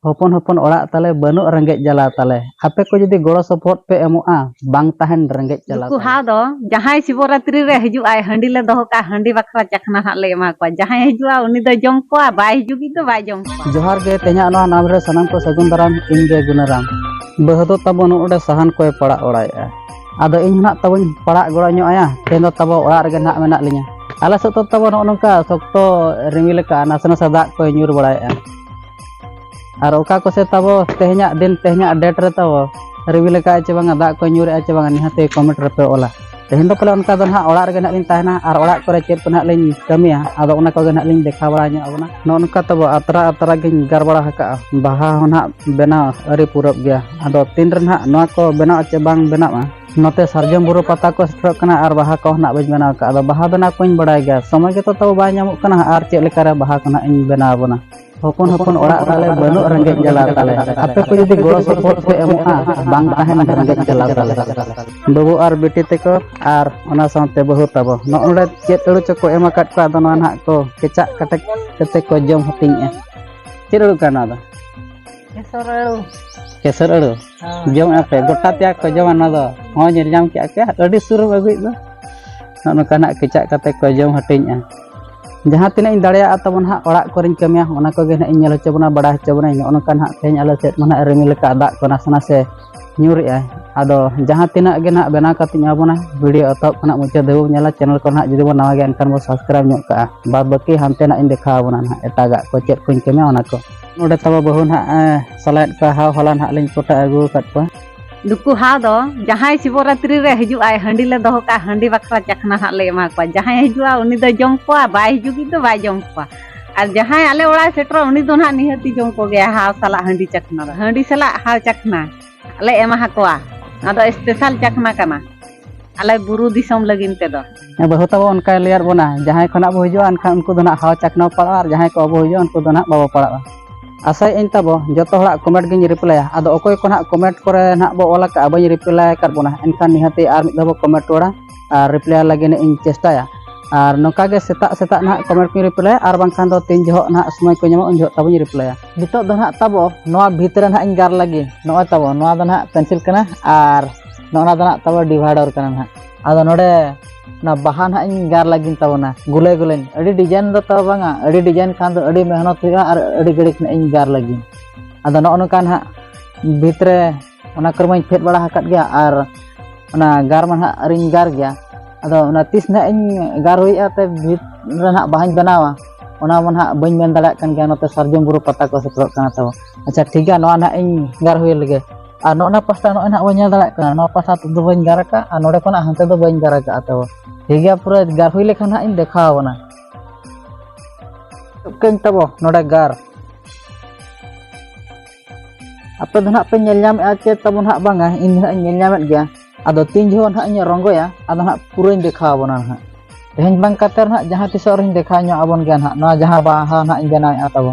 ᱦᱚᱯᱚᱱ ᱦᱚᱯᱚᱱ ᱚᱲᱟᱜ ᱛᱟᱞᱮ ᱵᱟᱹᱱᱩᱜ ᱨᱮᱸᱜᱮᱡ ᱡᱟᱞᱟ ᱛᱟᱞᱮ ᱟᱯᱮ ᱠᱚ ᱡᱩᱫᱤ ᱜᱚᱲᱚ ᱥᱚᱯᱚᱦᱚᱫ ᱯᱮ ᱮᱢᱚᱜᱼᱟ ᱵᱟᱝ ᱛᱟᱦᱮᱱ ᱨᱮᱸᱜᱮᱡ ᱡᱟᱞᱟ ᱱᱩᱠᱩ ᱦᱟᱣ ᱫᱚ ᱡᱟᱦᱟᱸᱭ ᱥᱤᱵᱚᱨᱟᱛᱨᱤ ᱨᱮ ᱦᱤᱡᱩᱜ ᱟᱭ ᱦᱟᱺᱰᱤ ᱞᱮ ᱫᱚᱦᱚ ᱠᱟᱜᱼᱟ ᱦᱟᱺᱰᱤ ᱵᱟᱠᱷᱨᱟ ᱪᱟᱠᱷᱱᱟ ᱦᱟᱸᱜ ᱞᱮ ᱮᱢᱟ ᱠᱚᱣᱟ ᱡᱟᱦᱟᱸᱭ ᱦᱤᱡᱩᱜᱼᱟ ᱩᱱᱤ ᱫᱚ ᱡᱚᱢ ᱠᱚᱣᱟ ᱵᱟᱭ ᱦᱤᱡᱩᱜ ᱫᱚ ᱵᱟᱭ ᱡᱚᱢ ᱠᱚᱣᱟ ᱡᱚᱦᱟᱨ ᱜᱮ ᱛᱮᱦᱮᱧᱟᱜ ᱱᱚᱣᱟ ᱱᱟᱢ ᱨᱮ ᱥᱟᱱᱟᱢ ᱠᱚ ᱥᱟᱹᱜᱩᱱ ᱫᱟᱨᱟᱢ ᱤᱧ ᱜᱮ ᱜᱩᱱᱟᱨᱟᱢ ᱵᱟᱹᱦᱩ ᱫᱚ ᱛᱟᱵᱚ ᱱᱚᱰᱮ ᱥᱟᱦᱟᱱ ᱠᱚᱭ ᱯᱟᱲᱟᱜ ᱚᱲᱟᱭᱮᱜᱼᱟ ᱟᱫᱚ ᱤᱧ ᱦᱚᱸ ᱱᱟᱜ ᱛᱟᱵᱚᱧ ᱯᱟᱲᱟᱜ ᱜᱚᱲᱚ ᱧᱚᱜ ᱟᱭᱟ ᱛᱮᱦᱮᱧ ᱫᱚ ᱛᱟᱵᱚ ᱚᱲᱟᱜ ᱨᱮᱜᱮ ᱱᱟᱜ ᱢᱮᱱᱟᱜ ᱞᱤᱧᱟ ᱟᱞᱮ ᱥᱮᱫ ᱫᱚ ᱛᱟᱵᱚ ᱱᱚᱜᱼᱚ ᱱᱚᱝᱠᱟ ᱥᱚᱠᱛᱚ ᱨᱤᱢᱤᱞ ᱟᱠᱟᱜᱼᱟ ᱱᱟᱥᱮ ᱱᱟᱥᱮ ᱫᱟᱜ ᱠᱚᱭ ᱧᱩᱨ ᱵᱟᱲᱟᱭᱮᱜᱼᱟ ᱟᱨ ᱚᱠᱟ ᱠᱚᱥᱮ ᱛᱟᱵᱚ ᱛᱮᱦᱮᱧᱟᱜ ᱫᱤᱱ ᱛᱮᱦᱮᱧᱟᱜ ᱰᱮᱴ ᱨᱮ ᱛᱟᱵᱚ ᱨᱤᱵᱤᱞ ᱟᱠᱟᱫ ᱪᱮ ᱵᱟᱝᱟ ᱫᱟᱜ ᱠᱚ ᱧᱩᱨᱮᱜᱼᱟ ᱪᱮ ᱵᱟᱝᱟ ᱱᱤᱦᱟᱹᱛᱮ ᱠᱚᱢᱮᱱᱴ ᱨᱮᱯᱮ ᱚᱞᱟ ᱛᱮᱦᱮᱧ ᱫᱚ ᱯᱟᱞᱮ ᱚᱱᱠᱟ ᱫᱚ ᱱᱟᱦᱟᱜ ᱚᱲᱟᱜ ᱨᱮᱜᱮ ᱱᱟᱦᱟᱜ ᱞᱤᱧ ᱛᱟᱦᱮᱱᱟ ᱟᱨ ᱚᱲᱟᱜ ᱠᱚᱨᱮ ᱪᱮᱫ ᱠᱚ ᱱᱟᱦᱟᱜ ᱞᱤᱧ ᱠᱟᱹᱢᱤᱭᱟ ᱟᱫᱚ ᱚᱱᱟ ᱠᱚᱜᱮ ᱱᱟᱦᱟᱜ ᱞᱤᱧ ᱫᱮᱠᱷᱟᱣ ᱵᱟᱲᱟ ᱧᱚᱜ ᱟᱵᱚᱱᱟ ᱱᱚᱜᱼᱚ ᱱᱚᱝᱠᱟ ᱛᱟᱵᱚ ᱟᱛᱨᱟ ᱟᱛᱨᱟ ᱜᱤᱧ ᱜᱟᱨ ᱵᱟᱲᱟ ᱟᱠᱟᱫᱼᱟ ᱵᱟᱦᱟ ᱦᱚᱸ ᱱᱟᱦᱟᱜ ᱵᱮᱱᱟᱣ ᱟᱹᱨᱤ ᱯᱩᱨᱟᱹᱜ ᱜᱮᱭᱟ ᱟᱫᱚ ᱛᱤᱱ ᱨᱮ ᱱᱟᱦᱟᱜ ᱱᱚᱣᱟ ᱠᱚ ᱵᱮᱱᱟᱣ ᱪᱮ ᱵᱟᱝ ᱵᱮᱱᱟᱣᱟ ᱱᱚᱛᱮ ᱥᱟᱨᱡᱚᱢ ᱵᱩᱨᱩ ᱯᱟᱛᱟ ᱠᱚ ᱥᱮᱴᱮᱨᱚᱜ ᱠᱟᱱᱟ ᱟᱨ ᱵᱟᱦᱟ ᱠᱚ ᱱᱟᱜ ᱵᱟᱹᱧ ᱵᱮᱱᱟᱣ ᱠᱟᱜᱼᱟ ᱟᱫᱚ ᱵᱟᱦᱟ ᱵᱮᱱᱟᱣ ᱠᱚᱧ ᱵᱟᱲᱟᱭ ᱜᱮᱭᱟ ᱥᱚᱢᱚᱭ ᱜᱮᱛᱚ ᱛᱟᱵᱚ ᱵᱟᱭ ᱧᱟᱢᱚᱜ ᱠᱟᱱᱟ ᱟᱨ ᱪᱮᱫ ᱞᱮᱠᱟᱨᱮ ᱵᱟᱦᱟ ᱠᱚ ᱱᱟᱜ ᱤᱧ ᱵᱮᱱᱟᱣ ᱟᱵᱚᱱᱟ ᱦᱚᱯᱚᱱ ᱦᱚᱯᱚᱱ ᱚᱲᱟᱜ ᱛᱟᱞᱮ ᱵᱟᱹᱱᱩᱜ ᱨᱮᱸᱜᱮᱡ ᱡᱟᱞᱟ ᱛᱟᱞᱮ ᱟᱯᱮ ᱠᱚ ᱡᱩᱫᱤ ᱜᱚᱲᱚ ᱥᱚᱯᱚᱦᱚᱫ ᱯᱮ ᱮᱢᱚᱜᱼᱟ ᱵᱟᱝ ᱛᱟᱦᱮᱱ ᱨᱮᱸᱜᱮᱡ ᱡᱟᱞᱟ ᱛᱟᱞᱮ ᱵᱟᱹᱵᱩ ᱟᱨ ᱵᱤᱴᱤ ᱛᱮᱠᱚ ᱟᱨ ᱚᱱᱟ ᱥᱟᱶᱛᱮ ᱵᱟᱹᱦᱩ ᱛᱟᱵᱚ ᱱᱚᱜᱼᱚᱸᱰᱮ ᱪᱮᱫ ᱟᱹᱲᱩ ᱪᱚᱠᱚ ᱮᱢ ᱟᱠᱟᱫ ᱠᱚᱣᱟ ᱟᱫᱚ ᱱᱚᱣᱟ ᱱᱟᱜ ᱠᱚ ᱠᱮᱪᱟᱜ ᱠᱟᱴᱮᱡ ᱠᱟᱛᱮ ᱠᱚ ᱡᱚᱢ ᱦᱟᱹᱴᱤᱧᱮᱜᱼᱟ ᱪᱮᱫ ᱟᱹᱲᱩ ᱠᱟᱱᱟ ᱱᱚᱣᱟ ᱫᱚ ᱠᱮᱥᱚᱨ ᱟᱹᱲᱩ ᱠᱮᱥᱚᱨ ᱟᱹᱲᱩ ᱡᱚᱢᱮᱫ ᱟᱯᱮ ᱜᱚᱴᱟ ᱛᱮᱭᱟᱜ ᱠᱚ ᱡᱚᱢᱟ ᱱᱚᱣᱟ ᱫᱚ ᱦᱚᱸ ᱧᱮᱞ ᱧᱟᱢ ᱠᱮᱫᱼᱟ ᱯᱮ ᱟᱹᱰᱤ ᱥᱩᱨᱮᱢ ᱟᱹᱜᱩᱭᱮᱫ ᱫᱚ ᱱᱚᱜᱼᱚ ᱱᱚᱝᱠᱟᱱᱟᱜ ᱠᱮᱪᱟᱜ ᱠᱟᱛᱮ ᱠᱚ ᱡᱚᱢ ᱦᱟᱹᱴᱤᱧᱮᱜᱼᱟ ᱡᱟᱦᱟᱸ ᱛᱤᱱᱟᱹᱜ ᱤᱧ ᱫᱟᱲᱮᱭᱟᱜᱼᱟ ᱛᱟᱵᱚᱱ ᱦᱟᱸᱜ ᱚᱲᱟᱜ ᱠᱚᱨᱮᱧ ᱠᱟᱹᱢᱤᱭᱟ ᱚᱱᱟ ᱠᱚᱜᱮ ᱦᱟᱸᱜ ᱤᱧ ᱧᱮᱞ ᱦᱚᱪᱚ ᱵᱚᱱᱟ ᱵᱟᱲᱟᱭ ᱦᱚᱪᱚ ᱵᱚᱱᱟᱹᱧ ᱱᱚᱜᱼᱚ ᱱᱚᱝᱠᱟ ᱦᱟᱸᱜ ᱛᱮᱦᱮᱧ ᱟᱞᱮ ᱥᱮᱫ ᱢᱟ ᱦᱟᱸᱜ ᱨᱤᱢᱤᱞ ᱟᱠᱟᱫ ᱫᱟᱜ ᱠᱚ ᱱᱟᱥᱮ ᱱᱟᱥᱮ ᱧᱩᱨᱮᱜᱼᱟ ᱟᱫᱚ ᱡᱟᱦᱟᱸ ᱛᱤᱱᱟᱹᱜ ᱜᱮ ᱦᱟᱸᱜ ᱵᱮᱱᱟᱣ ᱠᱟᱛᱮ ᱤᱧ ᱮᱢᱟᱵᱚᱱᱟ ᱵᱷᱤᱰᱤᱭᱳ ᱮᱛᱚᱦᱚᱵ ᱠᱷᱚᱱᱟᱜ ᱢᱩᱪᱟᱹᱫ ᱫᱷᱟᱹᱵᱤᱡ ᱧᱮᱞᱟ ᱪᱮᱱᱮᱞ ᱠᱚ ᱦᱟᱸᱜ ᱡᱩᱫᱤ ᱵᱚᱱ ᱱᱟᱣᱟ ᱜᱮᱭᱟ ᱮᱱᱠᱷᱟᱱ ᱵᱚᱱ ᱥᱟᱵᱥᱠᱨᱟᱭᱤᱵᱽ ᱧᱚᱜ ᱠᱟᱜᱼᱟ ᱵᱟᱫ ᱵᱟᱹᱠᱤ ᱦᱟᱱᱛᱮ ᱱᱟᱜ ᱤᱧ ᱫᱮᱠᱷᱟᱣ ᱟᱵᱚᱱᱟ ᱦᱟᱸᱜ ᱮᱴᱟᱜᱟᱜ ᱠᱚ ᱪᱮᱫ ᱠᱚᱧ ᱠᱟᱹᱢᱤᱭᱟ ᱚᱱᱟ ᱠᱚ ᱱᱚᱰᱮ ᱛᱟᱵᱚ ᱵᱟᱹᱦᱩ ᱱᱟᱦᱟᱜ ᱥᱟᱞᱟᱭᱮᱫ ᱠᱚᱣᱟ ᱦᱟᱣ ᱦᱚᱞᱟ ᱱᱟᱦᱟᱜ ᱞᱤᱧ ᱠᱚᱴᱟ ᱟᱹᱜᱩ ᱟᱠᱟᱫ ᱠᱚᱣᱟ ᱱᱩᱠᱩ ᱦᱟᱣ ᱫᱚ ᱡᱟᱦᱟᱸᱭ ᱥᱤᱵᱚᱨᱟᱛᱨᱤ ᱨᱮ ᱦᱤᱡᱩᱜ ᱟᱭ ᱦᱟᱺᱰᱤ ᱞᱮ ᱫᱚᱦᱚ ᱠᱟᱜᱼᱟ ᱦᱟᱺᱰᱤ ᱵᱟᱠᱷᱨᱟ ᱪᱟᱠᱷᱱᱟ ᱱᱟᱦᱟᱜ ᱞᱮ ᱮᱢᱟ ᱠᱚᱣᱟ ᱡᱟᱦᱟᱸᱭ ᱦᱤᱡᱩᱜᱼᱟ ᱩᱱᱤ ᱫᱚ ᱡᱚᱢ ᱠᱚᱣᱟ ᱵᱟᱭ ᱦᱤᱡᱩᱜᱤᱡ ᱫᱚ ᱵᱟᱭ ᱡᱚᱢ ᱠᱚᱣᱟ ᱟᱨ ᱡᱟᱦᱟᱸᱭ ᱟᱞᱮ ᱚᱲᱟᱜ ᱥᱮᱴᱮᱨᱚᱜ ᱩᱱᱤ ᱫᱚ ᱱᱟᱦᱟᱜ ᱱᱤᱦᱟᱹᱛᱤ ᱡᱚᱢ ᱠᱚᱜᱮᱭᱟ ᱦᱟᱣ ᱥᱟᱞᱟᱜ ᱦᱟᱺᱰᱤ ᱪᱟᱠᱷᱱᱟ ᱫᱚ ᱦᱟᱺᱰᱤ ᱥᱟᱞᱟᱜ ᱦᱟᱣ ᱪᱟᱠᱷᱱᱟ ᱟᱞᱮ ᱮᱢᱟ ᱦᱟᱠᱚᱣᱟ ᱟᱫᱚ ᱥᱯᱮᱥᱟᱞ ᱪᱟᱠᱷᱱᱟ ᱠᱟᱱᱟ ᱟᱞᱮ ᱵᱩᱨᱩ ᱫᱤᱥᱚᱢ ᱞᱟᱹᱜᱤᱫ ᱛᱮᱫᱚ ᱵᱟᱹᱦᱩ ᱛᱟᱵᱚ ᱚᱱᱠᱟ ᱞᱮᱭᱟᱨ ᱵᱚᱱᱟ ᱡᱟᱦᱟᱸᱭ ᱠᱷᱚᱱᱟᱜ ᱵᱚ ᱦᱤᱡᱩᱜᱼᱟ ᱮᱱᱠᱷᱟᱱ ᱩᱱᱠᱩ ᱫᱚ ᱱᱟᱜ ᱦᱟᱣᱟ ᱪᱟᱠᱷᱱᱟ ᱯᱟᱲᱟᱜᱼᱟ ᱟᱨ ᱡᱟᱦᱟᱸᱭ ᱠᱚ ᱵᱟᱵᱚ ᱦᱤᱡᱩᱜᱼᱟ ᱩᱱᱠᱩ ᱫᱚ ᱱᱟᱜ ᱵᱟᱵᱚ ᱯᱟᱲᱟᱜᱼᱟ ᱟᱥᱟᱭ ᱤᱧ ᱛᱟᱵᱚ ᱡᱚᱛᱚ ᱦᱚᱲᱟᱜ ᱠᱚᱢᱮᱱᱴ ᱜᱤᱧ ᱨᱤᱯᱞᱟᱭᱟ ᱟᱫᱚ ᱚᱠᱚᱭ ᱠᱚ ᱱᱟᱜ ᱠᱚᱢᱮᱱᱴ ᱠᱚᱨᱮ ᱱᱟᱜ ᱵᱚ ᱚᱞ ᱟᱠᱟᱫᱼᱟ ᱵᱟᱹᱧ ᱨᱤᱯᱞᱟᱭ ᱟᱠᱟᱫ ᱵᱚᱱᱟ ᱮᱱᱠᱷᱟᱱ ᱱᱤᱦᱟᱹᱛ ᱟᱨ ᱢᱤᱫ ᱫᱷᱟᱣ ᱵᱚ ᱠᱚᱢᱮᱱᱴ ᱨᱚᱲᱟ ᱟᱨ ᱨᱤᱯᱞᱟᱭ ᱞᱟᱹᱜᱤᱫ ᱤᱧ ᱪᱮᱥᱴᱟᱭᱟ ᱟᱨ ᱱᱚᱝᱠᱟ ᱜᱮ ᱥᱮᱛᱟᱜ ᱥᱮᱛᱟᱜ ᱱᱟᱜ ᱠᱚᱢᱮᱱᱴ ᱠᱚᱧ ᱨᱤᱯᱞᱟᱭᱟ ᱟᱨ ᱵᱟᱝᱠᱷᱟᱱ ᱫᱚ ᱛᱤᱱ ᱡᱚᱦᱚᱜ ᱱᱟᱜ ᱥᱚᱢᱚᱭ ᱠᱚ ᱧᱟᱢᱚᱜᱼᱟ ᱩᱱ ᱡᱚᱦᱚᱜ ᱛᱟᱵᱚᱧ ᱨᱤᱯᱞᱟᱭᱟ ᱱᱤᱛᱚᱜ ᱫᱚ ᱱᱟᱦᱟᱜ ᱛᱟᱵᱚ ᱱᱚᱣᱟ ᱵᱷᱤᱛ ᱨᱮ ᱱᱟᱦᱟᱜ ᱤᱧ ᱜᱟᱨ ᱞᱟᱹᱜᱤᱫ ᱱᱚᱜᱼᱚᱭ ᱛᱟᱵᱚ ᱱᱚᱣᱟ ᱫᱚ ᱱᱟᱦᱟᱜ ᱯᱮᱱᱥᱤᱞ ᱠᱟᱱᱟ ᱟᱨ ᱱᱚᱜᱼᱚᱱᱟ ᱫᱚ ᱱᱟᱦᱟᱜ ᱛᱟᱵᱚ ᱰᱤᱵᱷᱟᱭᱰᱚᱨ ᱠᱟᱱᱟ ᱱᱟᱦᱟᱜ ᱟᱫᱚ ᱱᱚᱰᱮ ᱚᱱᱟ ᱵᱟᱦᱟ ᱱᱟᱦᱟᱜ ᱤᱧ ᱜᱟᱨ ᱞᱟᱹᱜᱤᱫ ᱛᱟᱵᱚᱱᱟ ᱜᱩᱞᱟᱹᱭ ᱜᱩᱞᱟᱹᱧ ᱟᱹᱰᱤ ᱰᱤᱡᱟᱭᱤᱱ ᱫᱚ ᱛᱟᱵᱚ ᱵᱟᱝᱟ ᱟᱹᱰᱤ ᱰᱤᱡᱟᱭᱤᱱ ᱠᱷᱟᱱ ᱫᱚ ᱟᱹᱰᱤ ᱢᱮᱦᱱᱚᱛ ᱦᱩᱭᱩᱜᱼᱟ ᱟᱨ ᱟᱹᱰᱤ ᱜᱷᱟᱹᱲᱤᱡ ᱱᱟᱦᱟᱜ ᱤᱧ ᱜᱟᱨ ᱞᱟᱹᱜᱤᱫ ᱟᱫᱚ ᱱᱚᱜᱼᱚ ᱱᱚᱝᱠᱟ ᱱᱟᱦᱟᱜ ᱵᱷᱤᱛ ᱨᱮ ᱚᱱᱟ ᱠᱚᱨᱮ ᱢᱟᱧ ᱯᱷᱮᱰ ᱵᱟᱲᱟ ᱟᱠᱟᱫ ᱜᱮᱭᱟ ᱟᱨ ᱚᱱᱟ ᱜᱟᱨ ᱢᱟ ᱱᱟᱦᱟᱜ ᱟᱹᱨᱤᱧ ᱜᱟᱨ ᱜᱮᱭᱟ ᱟᱫᱚ ᱚᱱᱟ ᱛᱤᱥ ᱱᱟᱦᱟᱜ ᱤᱧ ᱜᱟᱨ ᱦᱩᱭᱩᱜᱼᱟ ᱛᱮ ᱵᱷᱤᱛ ᱨᱮ ᱱᱟᱦᱟᱜ ᱵᱟᱦᱟᱧ ᱵᱮᱱᱟᱣᱟ ᱚᱱᱟ ᱢᱟ ᱱᱟᱦᱟᱜ ᱵᱟᱹᱧ ᱢᱮᱱ ᱫᱟᱲᱮᱭᱟᱜ ᱠᱟᱱ ᱜᱮᱭᱟ ᱱᱚᱛᱮ ᱥᱟᱨᱡᱚᱢ ᱵᱩᱨᱩ ᱯᱟᱛᱟ ᱠᱚ ᱥᱮᱴᱮᱨᱚᱜ ᱠᱟᱱᱟ ᱛᱚ ᱟᱪᱪᱷᱟ ᱴᱷᱤᱠ ᱜᱮᱭᱟ ᱱᱚᱣᱟ ᱱᱟᱦᱟᱜ ᱤᱧ ᱜᱟᱨ ᱦᱩᱭ ᱞᱮᱜᱮ ᱟᱨ ᱱᱚᱜᱼᱚ ᱱᱚᱣᱟ ᱯᱟᱥᱴᱟ ᱱᱚᱜᱼᱚᱭ ᱱᱟᱦᱟᱜ ᱵᱟᱹᱧ ᱧᱮᱞ ᱫᱟᱲᱮᱭᱟᱜ ᱠᱟᱱᱟ ᱱᱚᱣᱟ ᱯᱟᱥᱴᱟ ᱛᱮᱫᱚ ᱵᱟᱹᱧ ᱜᱟᱨ ᱟᱠᱟᱫᱼᱟ ᱟᱨ ᱱᱚᱰᱮ ᱠᱷᱚᱱᱟᱜ ᱦᱟᱱᱛᱮ ᱫᱚ ᱵᱟᱹᱧ ᱜᱟᱨ ᱟᱠᱟᱫᱼᱟ ᱛᱚ ᱴᱷᱤᱠ ᱜᱮᱭᱟ ᱯᱩᱨᱟᱹ ᱜᱟᱨ ᱦᱩᱭ ᱞᱮᱠᱷᱟᱱ ᱱᱟᱦᱟᱜ ᱤᱧ ᱫᱮᱠᱷᱟᱣ ᱟᱵᱚᱱᱟ ᱠᱟᱹᱧ ᱛᱟᱵᱚ ᱱᱚᱰᱮ ᱜᱟᱨ ᱟᱯᱮ ᱫᱚ ᱱᱟᱦᱟᱜ ᱯᱮ ᱧᱮᱞ ᱧᱟᱢᱮᱫᱼᱟ ᱪᱮ ᱛᱟᱵᱚ ᱱᱟᱦᱟᱜ ᱵᱟᱝᱟ ᱤᱧ ᱱᱟᱦᱟᱜ ᱤᱧ ᱧᱮᱞ ᱧᱟᱢᱮᱫ ᱜᱮᱭᱟ ᱟᱫᱚ ᱛᱤᱱ ᱡᱚᱦᱚᱜ ᱱᱟᱦᱟᱜ ᱤᱧ ᱨᱚᱝᱜᱚᱭᱟ ᱟᱫᱚ ᱱᱟᱦᱟᱜ ᱯᱩᱨᱟᱹᱧ ᱫᱮᱠᱷᱟᱣ ᱟᱵᱚᱱᱟ ᱱᱟᱦᱟᱜ ᱛᱮᱦᱮᱧ ᱵᱟᱝ ᱠᱟᱛᱮ ᱱᱟᱦᱟᱜ ᱡᱟᱦᱟᱸ ᱛᱤᱥᱚᱜ ᱨᱮᱧ ᱫᱮᱠᱷᱟᱣ ᱧᱚᱜ ᱟᱵᱚᱱ ᱜᱮᱭᱟ ᱱᱟᱦᱟᱜ ᱱᱚᱣᱟ ᱡᱟᱦᱟᱸ ᱵᱟᱦᱟ ᱱᱟᱦᱟᱜ ᱤᱧ ᱵᱮᱱᱟᱣᱮᱫᱼᱟ ᱛᱟᱵᱚ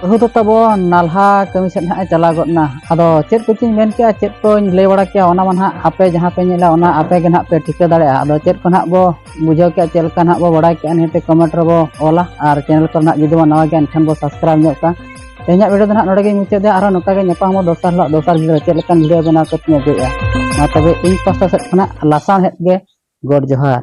ᱵᱟᱹᱦᱩ ᱫᱚ ᱛᱟᱵᱚ ᱱᱟᱞᱦᱟ ᱠᱟᱹᱢᱤ ᱥᱮᱫ ᱱᱟᱦᱟᱜ ᱮ ᱪᱟᱞᱟᱣ ᱜᱚᱫ ᱮᱱᱟ ᱟᱫᱚ ᱪᱮᱫ ᱠᱚᱪᱚᱧ ᱢᱮᱱ ᱠᱮᱜᱼᱟ ᱪᱮᱫ ᱠᱚᱧ ᱞᱟᱹᱭ ᱵᱟᱲᱟ ᱠᱮᱜᱼᱟ ᱚᱱᱟ ᱢᱟ ᱱᱟᱦᱟᱜ ᱟᱯᱮ ᱡᱟᱦᱟᱸ ᱯᱮ ᱧᱮᱞᱟ ᱚᱱᱟ ᱟᱯᱮ ᱜᱮ ᱱᱟᱦᱟᱜ ᱯᱮ ᱴᱷᱤᱠᱟᱹ ᱫᱟᱲᱮᱭᱟᱜᱼᱟ ᱟᱫᱚ ᱪᱮᱫ ᱠᱚ ᱱᱟᱦᱟᱜ ᱵᱚ ᱵᱩᱡᱷᱟᱹᱣ ᱠᱮᱜᱼᱟ ᱪᱮᱫ ᱞᱮᱠᱟ ᱱᱟᱦᱟᱜ ᱵᱚ ᱵᱟᱲᱟᱭ ᱠᱮᱜᱼᱟ ᱱᱤᱦᱟᱹᱛ ᱠᱚᱢᱮᱱᱴ ᱨᱮᱵᱚ ᱚᱞᱟ ᱟᱨ ᱪᱮᱱᱮᱞ ᱠᱚ ᱱᱟᱦᱟᱜ ᱡᱩᱫᱤ ᱵᱚ ᱱᱟᱣᱟ ᱜᱮᱭᱟ ᱮᱱᱠᱷᱟᱱ ᱵᱚ ᱥᱟᱵᱥᱠᱨᱟᱭᱤᱵᱽ ᱧᱚᱜ ᱠᱟᱜᱼᱟ ᱛᱮᱦᱮᱧᱟᱜ ᱵᱷᱤᱰᱤᱭᱳ ᱫᱚ ᱱᱟᱦᱟᱜ ᱱᱚᱰᱮ ᱜᱮᱧ ᱢᱩᱪᱟᱹᱫᱟ ᱟᱨᱦᱚᱸ ᱱᱚᱝᱠᱟ ᱜᱮ ᱧᱟᱯᱟᱢᱚᱜ ᱫᱚᱥᱟᱨ ᱦᱤᱞᱳᱜ ᱫᱚᱥᱟᱨ ᱵᱷᱤᱰᱤᱭᱳ ᱪᱮᱫ ᱞᱮᱠᱟᱱ ᱵᱷᱤᱰᱤᱭᱳ ᱵᱮᱱᱟᱣ ᱠᱟᱛᱮᱧ ᱟᱹᱜᱩᱭᱮᱜᱼᱟ ᱢᱟ ᱛᱚᱵᱮ ᱤᱧ ᱯᱟᱥᱴᱟ ᱥᱮᱫ ᱠᱷᱚᱱᱟᱜ ᱞᱟᱥᱟᱬᱦᱮᱫ ᱜᱮ ᱜᱚᱰ ᱡᱚᱦᱟᱨ